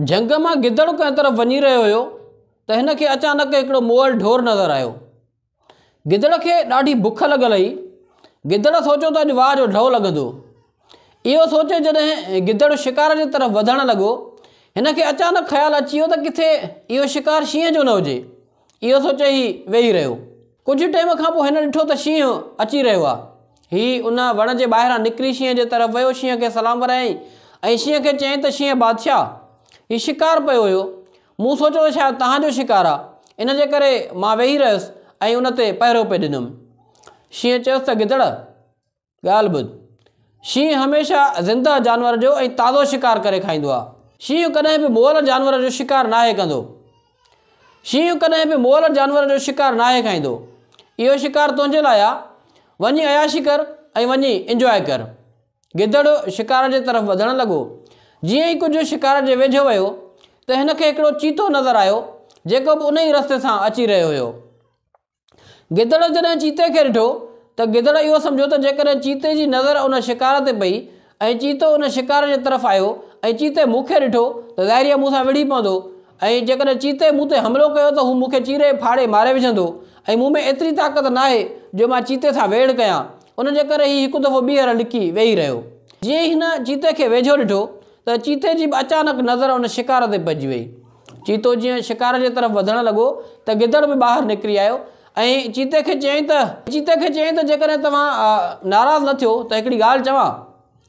جهنگ مان گدڙ ڪنهن طرف وڃي رهيو هيو ته هن کي اچانڪ هڪڙو موئل ڍور نظر آيو. گدڙ کي ڏاڍي بک لڳل هئي. گدڙ سوچيو ته اڄ واهه جو ڍؤ لڳندو. اهو سوچي جڏهن گدڙ شڪار جي طرف وڌڻ لڳو، هن کي اچانڪ خيال اچي ويو ته ڪٿي اهو شڪار شينهن جو نه هجي. اهو سوچي هي ويهي رهيو. ڪجهه ٽيم کان پوء هن ڏٺو ته شينهن اچي رهيو آهي. هي ان وڻ جي ٻاهران نڪري شينهن جي طرف ويو، شينهن کي سلام ورايائين ۽ شينهن کي چيائين ته شينهن بادشاهه! هي شڪار پيو هيو. مون سوچيو ته شايد توهان جو شڪار آهي، ان جي ڪري مان ويهي رهيس ۽ ان تي پهرو پئي ڏنم. شينهن چيس ته گدڙ! ڳالهه ٻڌ، شينهن هميشه زنده جانور جو ۽ تازو شڪار ڪري کائيندو آهي. شينهن ڪڏهن به مئل جانور جو شڪار ناهي ڪندو. شينهن ڪڏهن به مئل جانور جو شڪار ناهي کائيندو. اهو شڪار تنهنجي لاء آهي. وڃي عياشي ڪر ۽ وڃي انجواء ڪر. گدڙ شڪار جي طرف وڌڻ لڳو. جيئن ئي ڪجهه شڪار جي ويجهو ويو ته هن کي هڪڙو چيتو نظر آيو جيڪو به انهي ئي رستي سان اچي رهيو هيو. گدڙ جڏهن چيتي کي ڏٺو ته گدڙ اهو سمجهيو ته جيڪڏهن چيتي جي نظر ان شڪار تي پئي ۽ چيتو ان شڪار جي طرف آيو ۽ چيتي مون کي ڏٺو ته ظاهري آهي مون سان وڙهي پوندو ۽ جيڪڏهن چيتي مون تي حملو ڪيو ته هو مون کي چيري ڦاڙي ماري وجهندو ۽ مون ۾ ايتري طاقت ناهي جو مان چيتي سان ويڙهه ڪيان ان جي ڪري هي هڪ دفعو ٻيهر لڪي ويهي رهيو. جيئن ئي هن چيتي کي ويجهو ڏٺو ته چيتي جي به اچانڪ نظر ان شڪار تي پئجي وئي چيتو جيئن شڪار جي طرف وڌڻ لڳو ته گدڙ به ٻاهر نڪري آيو ۽ چيتي کي چيائين ته چيتي کي چيائين ته جيڪڏهن توهان ناراض نه ٿيو ته هڪڙي ڳالهه چوان.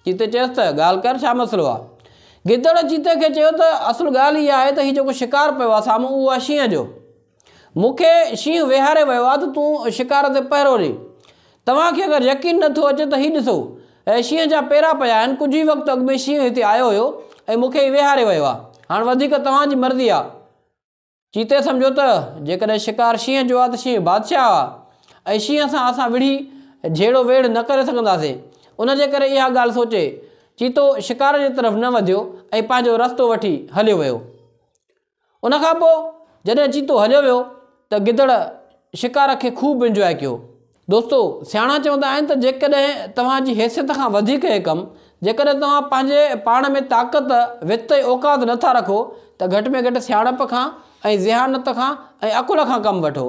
چيتي چيس ته ڳالهه ڪر ڇا مسئلو آ؟ گدڙ چيتي کي چيو ته اصل ڳالهه هيء آهي ته هي جيڪو شڪار پيو آ سامهون اهو آ شينهن جو. مون کي شينهن ويهاري ويو آهي ته تون شڪار تي پهرو ڏي. توهان کي اگر يقين نه ٿو اچي ته هي ڏسو، هي شينهن جا پيرا پيا آهن، ڪجهه ئي وقت اڳ ۾ شينهن هتي آيو هيو ۽ مون کي هي ويهاري ويو آهي. هاڻ وڌيڪ توهان جي مرضي آهي. چيتي سمجهيو ته جيڪڏهن شڪار شينهن جو آهي ته شينهن بادشاهه آهي ۽ شينهن سان اسان وڙهي جهيڙو ويڙهه نه ڪري سگهنداسين. ان جي ڪري اها ڳالهه سوچي، چيتو شڪار جي طرف نه وڌيو ۽ پنهنجو رستو وٺي هليو ويو. ان کان پوء جڏهن چيتو هليو ويو ته گدڙ شڪار کي خوب انجواء ڪيو دوستو سياڻا چوندا آهن ته جيڪڏهن توهان جي حيثيت کان وڌيڪ هي ڪم جيڪڏهن توهان پنهنجي پاڻ ۾ طاقت وت ۽ اوقات نٿا رکو ته گهٽ ۾ گهٽ سياڻپ کان ۽ ذهانت کان ۽ عقل کان ڪم وٺو